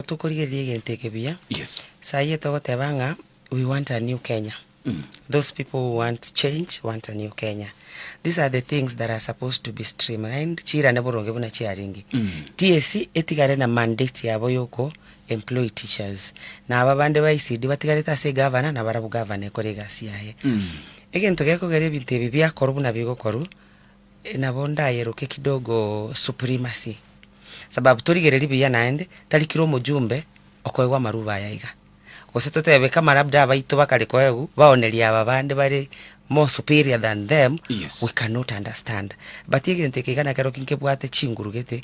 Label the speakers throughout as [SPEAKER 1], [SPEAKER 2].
[SPEAKER 1] Tokorigereria egento eke buya. Yes. Saa eye togoteba ng'a we want a new Kenya. Those people who want change want a new Kenya. These are the things that are supposed to be streamlined, chiirane boronge buna chiarenge. TSC etigare na mandate yabo ya oko employ teachers. Na aba bande ba ECD batigarete ase eGovernor na barabwo Governor ekore egasi yaye. Egento gekogera ebinto ebi biakorwa buna bigokorwa, Nabo ndayeroke kidogo supremacy, sababu torigereri buya naende tari kera omojumbe okoegwa amarubo aya iga. Gose totebe kama labda abaito bakare koegu baoneria aba bande bare more superior than them, we cannot understand. But egento eke iga nakero ki nkebwate chinguru gete.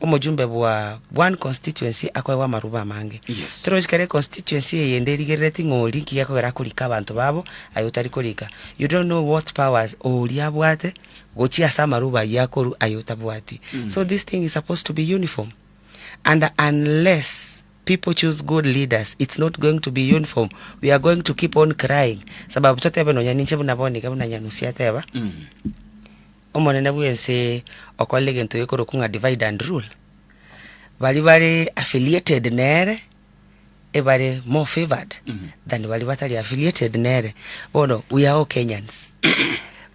[SPEAKER 1] Omochumbe bwa one constituency akoegwa amarubo amange. Yes. Tero osikera econstituency eyende erigerereti ng'a oria nki gekogera akorika abanto babo, aye otari korika. You don't know what powers oria abwate gochia ase amarubo ayio akorwa aye otabwati. So this thing is supposed to be uniform. And unless people choose good leaders, it's not going to be uniform. We are going to keep on crying. Sababu totebe nonya ninche buna bono iga buna Nyanusi ateba, omonene bw'ense okorire egento gekorokwa ng'a divide and rule, baria bare affiliated nere ebare more favoured than baria batari affiliated nere. Bono we are all Kenyans,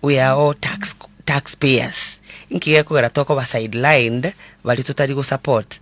[SPEAKER 1] we are all tax- tax payers, inki gekogera tokoba sidelined baria totari gosupport